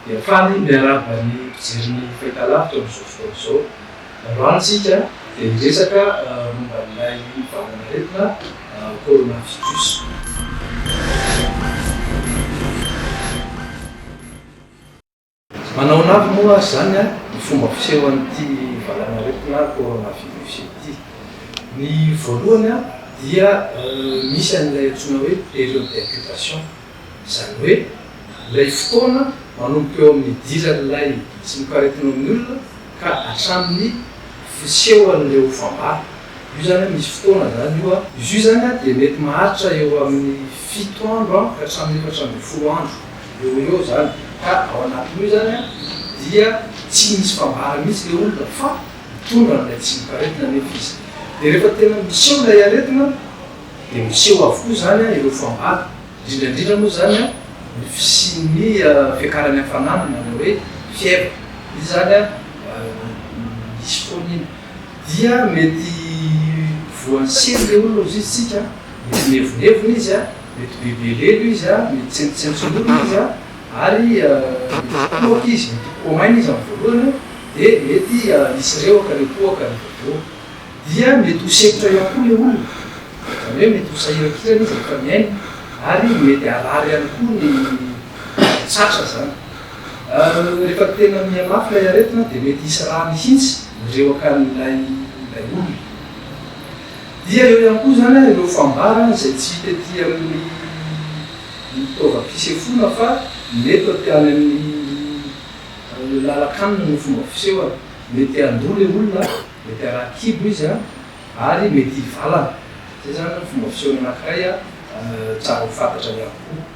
Dia faly miarahaba ny mpijery ny Fahitalavitra amin'izao fotoana izao. Androany isika dia hiresaka momba an'ilay valanaretina coronavirus. Manaona avy moa ary izany ny fomba fiseho an'ity valanaretina coronavirus ity? Ny voalohany dia misy an'ilay antsoina hoe période d'incubation, izany hoe ilay fotoana manomboka eo amin'ny idiran'ilay tsimokaretina eo amin'ny olona ka hatramin'ny fisehoan'ireo fambara. Io izany misy fotoana izany io. Izy io izany dia mety maharitra eo amin'ny fito andro ka hatramin'ny efatra ambin'ny folo andro. Eo ho eo zany, ka ao anatin'io zany an dia tsy misy mpambara mihitsy le olona fa mitondra an'ilay tsimokaretina anefa izy. Dia rehefa tena miseho ilay aretina dia miseho avokoa zany an ireo fambara, indrindra indrindra moa zany an ny fisian'ny fiakaran'ny hafanana na ilay hoe fièvre, io zany an misy foana iny. Dia mety voan'ny sery le olona ozizintsika an, mety mihevonhevona izy an. Mety be velelo izy, mety tsentotsenton'olona izy, ary mety kohaka izy, mety ho komaina izy amin'ny voalohany, dia mety hisy rehoka ilay kohaka rehefa avy eo. Dia mety ho sempotra ihany koa ilay olona, izany hoe mety ho sahirankirana izy rehefa mihaino, ary mety harary ihany koa ny tratra izany. Rehefa tena mihamafy ilay aretina dia mety hisy ra mihitsy mirehoka an'ilay olona. Dia eo ihany koa izany ary ireo fambarana izay tsy hita ety amin'ny fitaovam-pisefoana fa mety aty any amin'ny lalan-kanina ny fomba fisehoana. Mety handoa ilay olona, mety haraha kibo izy ary mety hivalana. Izay izany ny fomba fisehoana anankiray tsara ho fantatra ihany koa.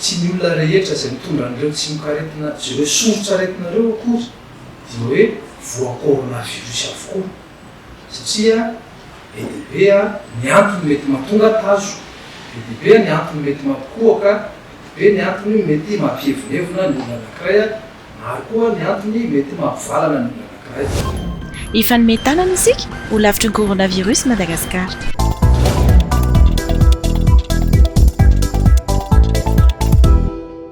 Tsy ny olona rehetra izay mitondra an'ireo tsimokaretina sy ireo sombin-tsaretina ireo akory dia hoe voa coronavirus avokoa, satria be dia be ny antony mety mahatonga tazo, be dia be ny antony mety mampikohoka, be dia be ny antony mety mampihevonhevona ny olona anankiray Maro koa ny antony mety mahavalana ny olona anankiray. Hifanome tanana isika ho lavitry ny coronavirus Madagascar.